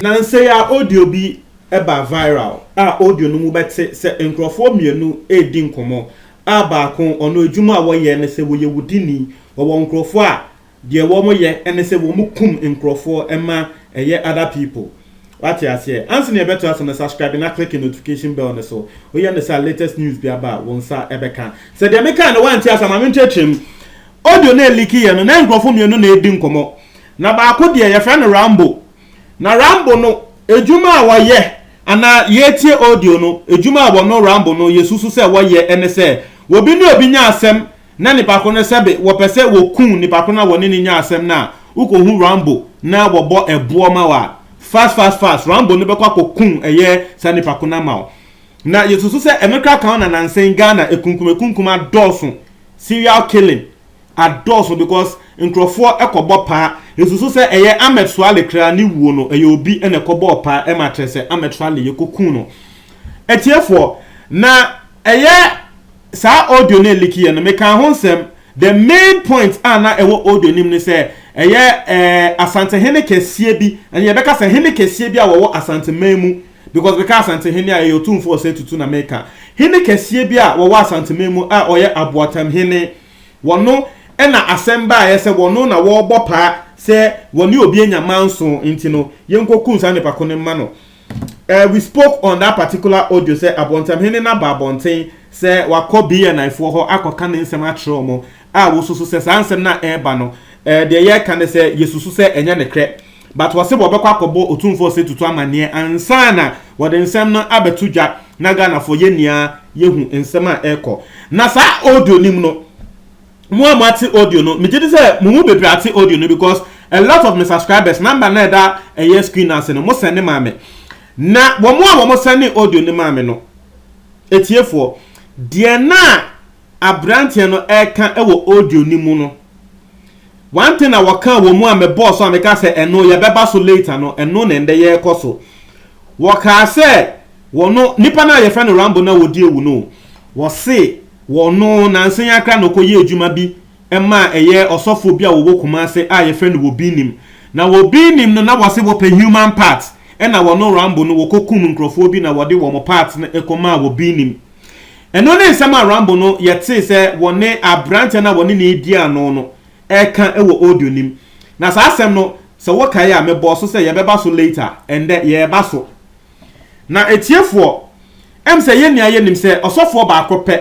Nnansa yi ara audio bi baa viral a audio no mu bɛte sɛ nkurɔfoɔ mmienu redi nkɔmmɔ a baako ɔno adwuma a wɔyɛ ne sɛ wɔyɛ wudini, wɔwɔ nkurɔfoɔ a Deɛ wɔn yɛ ne sɛ wɔn kum nkorɔfoɔ ma ɛyɛ other people wate aseɛ ansa na yɛbɛto aso no subscribe na click notification bell no so woyɛ no saa a latest news bi aba a wo nsa bɛka sɛ deɛ mekae no woante ase a ma menkyerɛkyerɛ mu audio no a ɛliki yɛ no na nkorɔfoɔ mmienu na ɛredi nkɔmmɔ na baako deɛ yɛfrɛ no Rambo na Rambo no adwuma a wɔyɛ anaa yɛretie audio no adwuma a wɔno Rambo no yɛsusu sɛ wɔyɛ ne sɛ wɔbi ne obi nya asɛm Na nipa ko no sɛbe wɔpɛ sɛ wɔku nipa ko no a wɔne no nya asɛm no a, wokɔhu Rambo na wɔbɔ ɛboɔ ma wo a, fast fast fast, Rambo no bɛkɔ akɔku ɛyɛ saa nipa ko no ama wo. Na yɛsusu sɛ ɛno koraa ka ho na nansa yi Ghana akunkum akunkum adɔɔso, serial killing adɔɔso because nkurɔfoɔ kɔbɔ paa. Yɛsusu sɛ ɛyɛ Ahmed Suale koraa ne wuo no ɛyɛ obi na ɛkɔbɔɔ paa ma kyerɛ sɛ Ahmed Suale yɛkɔku no. Atiefoɔ, na ɛyɛ Saa audio no a ɛleaki yɛ no, mekaa ho nsɛm. The main point a na ɛwɔ audio no mu ne sɛ, ɛyɛ ɛɛ Asantehene kɛseɛ bi, ɛnneɛ yɛbɛka sɛ hene kɛseɛ bi a wɔwɔ Asanteman mu, because mekaa Asantehene a, ɛyɛ Otumfoɔ Osei Tutu na meka. Hene kɛseɛ bi a wɔwɔ Asanteman mu a ɔyɛ Aboatam hene, wɔno na asɛm baeɛ sɛ wɔno na wɔrebɔ paa sɛ wɔne obi anya manso, nti no yɛnkɔkum saa nipa ko no mma no. Eh we spoke on that particular audio sɛ abɔntamhene no aba abɔnten sɛ wakɔ BNI foɔ hɔ akɔka ne nsɛm akyerɛ wɔn a wɔsusu sɛ saa nsɛm no a ɛreba no eh, deɛ yɛreka ne sɛ yɛsusu sɛ ɛnyɛ ne korɛ but wɔse wɔbɛkɔ akɔbɔ otumfoɔ sɛ tutu amanneɛ ansa na wɔde nsɛm no abɛto dwa na Ghanafoɔ yɛ nyinaa yɛhu nsɛm a ɛrekɔ na saa audio nim no Mo a moate audio no, megye di sɛ mo mu bebree ate audio no because a lot of me subscribers, number no a ɛda ɛyɛ screen no ase no, mo sɛnde maa me. Na wɔn a wɔsɛndee audio no maa me no, atiefoɔ, deɛ na aberanteɛ no reka wɔ audio no mu no, one thing a wɔkaa wɔ mu a mebɔɔ so a meka sɛ ɛno yɛbɛba so later no, ɛno na ɛndɛ yɛrekɔ so. Wɔkaa sɛ wɔn, nipa no a yɛfrɛ no Rambo no a ɔdi awu no, wɔse, Wɔno nansa yi ara koraa na ɔkɔyɛɛ adwuma bi ma ɛyɛ ɔsɔfoɔ bi a ɔwɔ Kumase a yɛfrɛ no Wobinim. Na Wobinim no na wɔse wɔpɛ human part ɛna wɔno Rambo no wɔkɔ kum nkorɔfoɔ bi na wɔde wɔn part no kɔ maa Wobinim. Ɛno ne nsɛm a Rambo no yɛtee sɛ wɔne aberanteɛ no a wɔne no redi ano no ɛreka wɔ audio no mu. Na saa asɛm no sɛ wokae a mebɔɔ so sɛ yɛbɛba so later, ɛndɛ yɛreba so. Na atiefoɔ, ɛm sɛ yɛn nyinaa yɛnim sɛ ɔsɔfoɔ baako pɛ,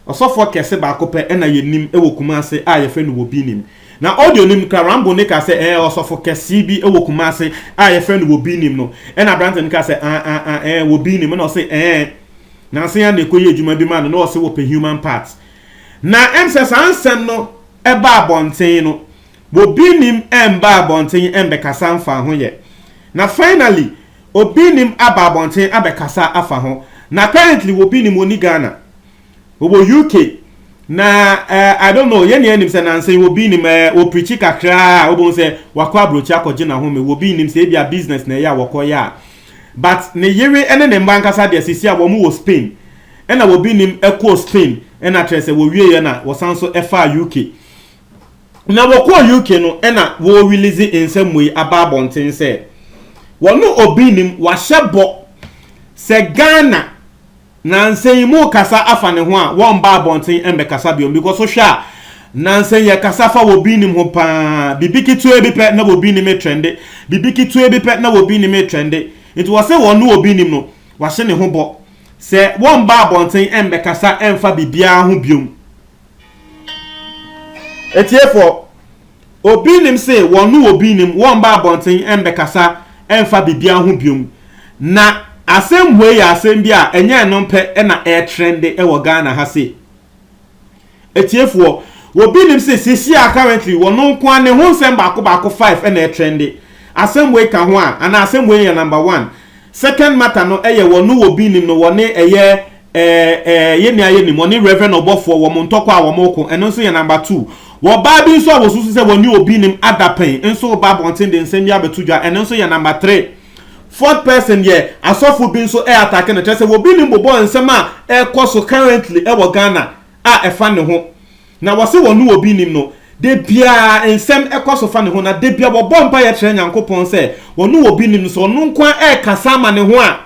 ɔsɔfoɔ kɛse baako pɛ na yɛnim wɔ Kumasi a yɛfrɛ no wɔ Binim. Na ɔde onim kra Rambo no kaa sɛ ɛɛ ɔsɔfo kɛsee bi wɔ Kumasi a yɛfrɛ no wɔ Binim no ɛna aberante no kaa sɛ ah ah ah ɛɛ wɔ Binim ɛna ɔse ɛɛ nanse ya na ɛkɔ yɛ adwuma bi ma no na ɔse wɔpɛ human part na ɛm sɛ saa nsɛm no ɛba abɔnten no wɔ Binim ɛmba abɔnten ɛmbɛkasa mfaa ho yɛ na finally Obi nim aba abɔnten abɛkasa afa ho na apparently obi nim ɔni Ghana ɔwɔ UK na eh, I don't know yɛn yɛn nim sɛ nansen obi nim eh, ɔpirikyi kakraa a wobɛhu sɛ wakɔ aburokyi akɔgye n'ahome obi nim sɛ ebi a business na ɛyɛ a wɔkɔyɛ a but ne yere ne ne mma ankasa deɛ sisi a wɔn wɔ Spain ɛna obi nim ɛkɔɔ Spain ɛna kyerɛ sɛ wɔwieɛ na wɔsan so ɛfaa UK Na wɔkɔɔ UK no na wɔrelease nsɛm wei aba abɔnten sɛ, wɔne obi nnim, wɔahyɛ bɔ sɛ Ghana nansa yi mu kasa afa ne ho a, wɔmma abɔnten mmɛkasa bio because wohwɛ a, nansa yi yɛkasa fa wɔbi nnim ho pa ara, biribi ketewa bi pɛ na wɔbi nnim retrɛnde, biribi ketewa bi pɛ na wɔbi nnim retrɛnde. Nti wɔse wɔne obi nnim no, wɔahyɛ ne ho bɔ sɛ wɔmma abɔnten mmɛkasa mfa biribiara ho bio. Atiefoɔ, obi nim se wɔn ne obi nim wɔmma abɔnten mmɛkasa mfa biribiara ho biom, na asɛmhue yɛ asɛm bi a ɛnyɛ ɛno pɛ na ɛretrɛnde wɔ Ghana ha sei. Atiefoɔ, obi nim se seesei a currently wɔn nko ara ne ho nsɛm baako baako five na ɛretrɛnde, asɛmhue ka ho a, anaa asɛmhue yɛ number one, second matter no yɛ wɔn ne obi nim no wɔne ɛyɛ Ɛɛ ɛɛ yɛn nua yɛnim ɔne Reverend ɔbɔfoɔ wɔn ntɔkwa a wɔn reko ɛno nso yɛ number two wɔ baa bi nso a wɔsusu sɛ wɔne obi nim adapɛn nso reba abɔnten de nsɛm bi abɛto dwa ɛno nso yɛ number three fourth person yɛ asɔfo bi nso ɛ atake no kyerɛ sɛ wɔbi nim bobɔ nsɛm a ɛkɔ so currently ɛwɔ Ghana a ɛfa ne ho na wɔse wɔne obi nim no da biara nsɛm ɛkɔ so fa ne ho na da bia wɔbɔ mpaeɛ kyerɛ Nyankopɔn sɛ wɔne obi nim no sɛ ɔno nko ara ɛkasa ama ne ho a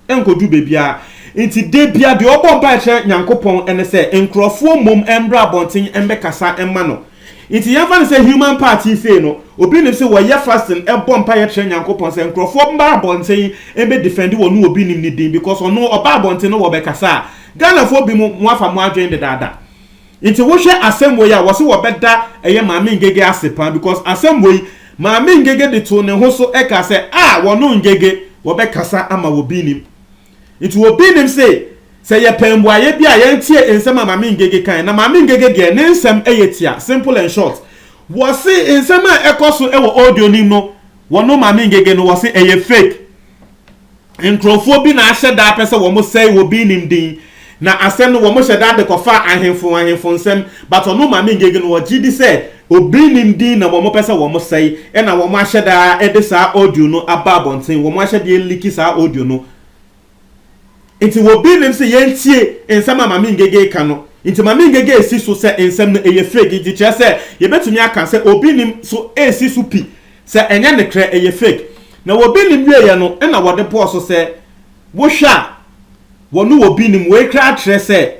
ɛnkodu baabiara. Enti da biara deɛ ɔbɔ mpaeɛ kyerɛ Nyankopɔn ne sɛ nkorɔfoɔ mmom mmra abɔnten mmɛkasa mma no. Enti yɛmfa no sɛ human party sei no, obi nim sɛ wɔyɛ fasting bɔ mpaeɛ kyerɛ Nyankopɔn sɛ nkorɔfoɔ mmra abɔnten mbɛ defend wɔn obi nim ne din because ɔno ɔba abɔnten na wɔbɛkasa a, Ghanafoɔ binom moafa moadwene dedaada. Nti wohwɛ asɛm wei a wɔse wɔbɛda ɛyɛ Maame Ngege ase paa because asɛm wei Maame Ngege de too ne ho so ɛkaa sɛ ah wɔno Ngege wɔbɛkasa ama wɔ binim nti wɔ binim se sɛ yɛpɛ mbuaeɛ bi a yɛntie nsɛm a Maame Ngege kae na Maame Ngege deɛ ne nsɛm ɛyɛ tia simple and short wɔse nsɛm a ɛkɔ so ɛwɔ audio nim no wɔno Maame Ngege no wɔse ɛyɛ fake. nkurɔfoɔ bi na ahyɛ da apɛ sɛ wɔn sɛe obi nim din na asɛm no wɔn hyɛ da de kɔfa ahemfo ahemfo nsɛm but ɔno Maame Ngege no ɔgye di sɛ obi nim din na wɔn pɛ sɛ wɔn sɛe ɛna wɔn ahyɛ da de saa audio no aba abɔnten wɔn ahyɛ de aliki saa audio no nti obi nim sɛ yɛntie nsɛm a Maame Ngege ka no nti Maame Ngege esi so sɛ nsɛm no ɛyɛ fake nti kyerɛ sɛ yɛbɛtumi aka sɛ obi nim so esi so pi Sɛ ɛnyɛ nekrɛ ɛyɛ fake na wɔ bi nim wieɛ no ɛna wɔde bɔɔ so sɛ wo hwɛ a wɔno wɔ bi nim wei kraa kyerɛ sɛ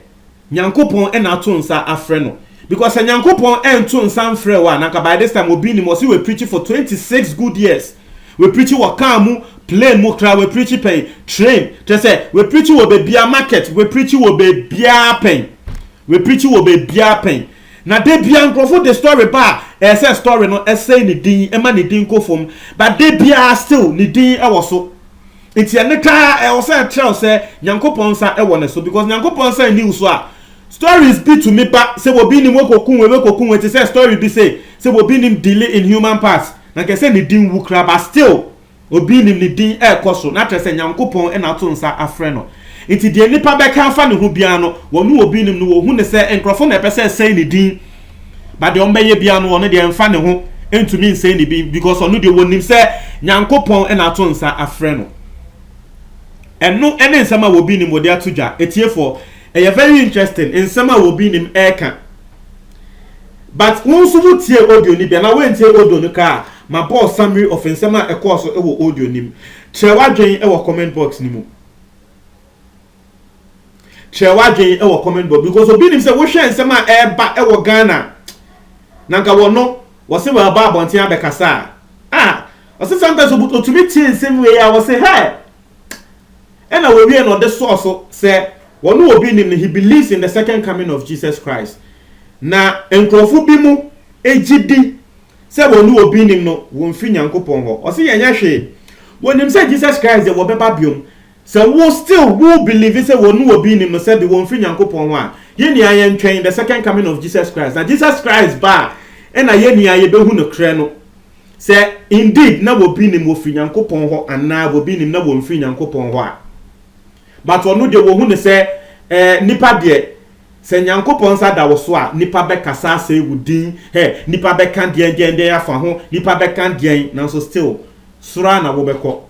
nyankopɔn ɛna ato nsa afrɛ no because sɛ nyankopɔn ɛnto nsa mfrɛ wo a na nka by this time wɔ bi nim ɔse wɛ preachi for 26 good years wɛ preachi wɔ car mu plane mu kraa wɛ preachi pɛn train kyerɛ sɛ wɛ preachi wɔ bɛ bia market wɛ preachi wɔ bɛ bia pɛn wɛ preachi wɔ bɛ bia pɛn Na dabiaa nkorɔfo de story ba a ɛyɛ sɛ story no sɛe ne din ma ne din kɔ fam but dabiaa still ne din wɔ so nti ɛne taa ɛwɔ sɛ ɛtrɛw sɛ Nyankopɔn nsa wɔ ne so because Nyankopɔn nsa nni wo so a stories bi tumi ba sɛ obi nim wɔkɔku wei wɔkɔku wei te sɛ story bi se sɛ obi nim dealing in human parts na nka ɛsɛ ne din wu koraa but still Obi nim ne din ɛrekɔ so na kyerɛ sɛ Nyankopɔn na ato nsa afrɛ no. Nti deɛ nnipa bɛka afa ne ho biara no, wɔne obi nim no, wɔhu no sɛ nkorɔfo na ɛpɛ sɛ ɛsɛe ne din. But deɛ wɔbɛyɛ biara no, ɔno deɛ ɛmfa ne ho, ɛntumi nsɛe ne din because ɔno deɛ wɔnim sɛ Nyankopɔn na ato nsa afrɛ no. Ɛno ne nsɛm a obi nim wɔde ato dwa. Atiefoɔ, ɛyɛ very interesting nsɛm a obi nim ɛreka. But wo nso wo tiee audio no bi anaa woantie audio no koraa ma bɔɔ summary of nsɛm a ɛkɔɔ so wɔ audio no mu. Kyerɛ w'adwen wɔ comment box no mu. Kyerɛ w'adwen wɔ comment box because obi nim sɛ wohwɛ nsɛm a ɛreba wɔ Ghana na nka wɔno wɔse wɔreba abɔnten abɛkasa a, ah, ɔse sometimes otumi tie nsɛm wei a ɔse hey, Ɛna wɔwie na ɔde sɔɔ so sɛ ɔno obi nnim no, he believes in the second coming of Jesus Christ. Na nkurɔfo bi mo gye di sɛ wɔne obi nnim no, wɔmfiri Nyankopɔn hɔ. Ɔse yɛnyɛ hwee. Wɔnim sɛ Jesus Christ deɛ wɔbɛba biom. Sɛ wo still wo believe sɛ wɔne obi nnim no sɛbe wɔmfiri Nyankopɔn hɔ a, yɛnua yɛntwɛn the second coming of Jesus Christ. Na Jesus Christ ba a, ɛna yɛnua yɛbɛhu no krɛ no. Sɛ indeed na wɔbi nim wɔfiri Nyankopɔn hɔ anaa wɔbi nim na wɔnfiri Nyankopɔn hɔ a, but ɔno deɛ wɔhu no sɛ eh, nipa deɛ sɛ Nyankopɔn nsa da wo so a, nipa bɛkasa asɛe wo din, hɛ, nipa bɛka deɛn deɛn deɛn afa ho, nipa bɛka deɛn, nanso still, soro ara na wobɛkɔ.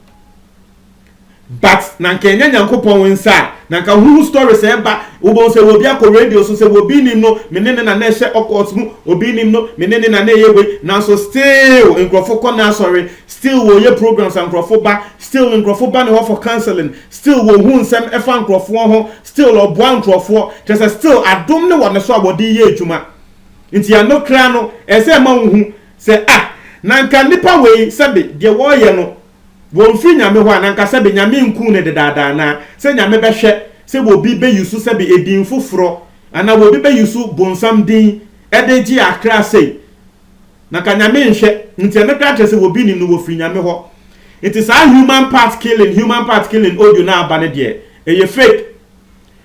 But na nka ɛnyɛ Nyankopɔn nsa a na nka wo ho story sɛ ɛba wobɛhu sɛ obi akɔ radio so sɛ obi nim no me ne no na na ɛhyɛ ocult mu obi nim no me ne no na na ɛyɛ wei nanso still nkurɔfo kɔ n'asɔre still wɔyɛ programs a nkurɔfo ba still nkurɔfo ba ne hɔ for counseling still wɔhu nsɛm ɛfa nkurɔfoɔ ho still ɔboa nkurɔfoɔ kyerɛ sɛ still adom ne wɔ ne so a wɔde yɛ adwuma nti ɛno kra no ɛsɛ ɛma wo hu sɛ ah na nka nipa wei sɛbe deɛ wɔyɛ no Wɔmfiri Nyame hɔ a na nka sɛbe Nyame nkuu no dedaada anaa sɛ Nyame bɛhwɛ sɛ wɔbi bɛ yusu sɛbe edin foforɔ anaa wɔbi bɛ yusu bonsam din de gye akra sei na nka Nyame nhwɛ nti ɛno koraa kyerɛ sɛ wɔbi nim no wɔfiri Nyame hɔ nti saa human part killing human part killing audio no a aba no deɛ ɛyɛ fake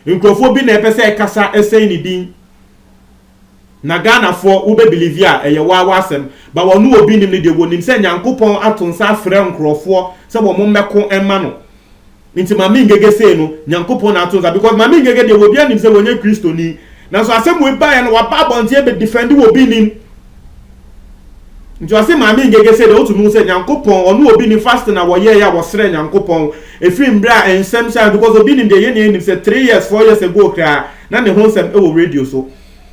nkurɔfoɔ bi na ɛpɛ sɛ ɛkasa ɛsɛe ne din. Na Ghana foɔ wo bɛ believe a ɛyɛ waa w'asɛm but wɔn ne obi nim no deɛ wɔnim sɛ Nyankopɔn ato nsa afrɛ nkorɔfoɔ sɛ wɔn mmɛko mma no nti Maame Ngege sei no Nyankopɔn na ato nsa because Maame Ngege deɛ obiara nim sɛ wɔnyɛ Kristoni nanso asɛm wei baeɛ no waba abɔnten bɛ defend wɔ obi nim nti ɔse Maame Ngege sei deɛ wotumi hu sɛ Nyankopɔn ɔne obi nim fasting a wɔyɛɛ a wɔsrɛ Nyankopɔn ɛfiri mmerɛ a nsɛm hyɛ because obi nim deɛ yɛn nyinaa nim sɛ three years four years ago koraa Na ne ho nsɛm wɔ radio so.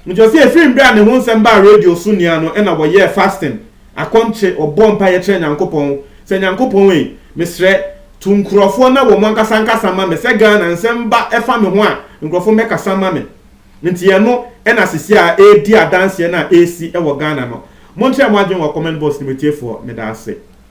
Megyina ɔse ɛfiri mberɛ a ne ho nsɛm baa radio so nia no ɛna wɔyɛɛ fasting, akɔnkye, wɔbɔɔ mpaeɛ kyerɛɛ Nyankopɔn sɛ Nyankopɔn ei, mesrɛ, tu nkorɔfoɔ na wɔn ankasa nkasa ma me, sɛ Ghana nsɛm ba ɛfa me ho a nkorɔfoɔ mmɛkasa mma me. Nti ɛno ɛna sisi a ɛredi adanseɛ no a ɛresi wɔ Ghana no. Monkyerɛ mo adwene wɔ comment box no mu atiefoɔ, medaase.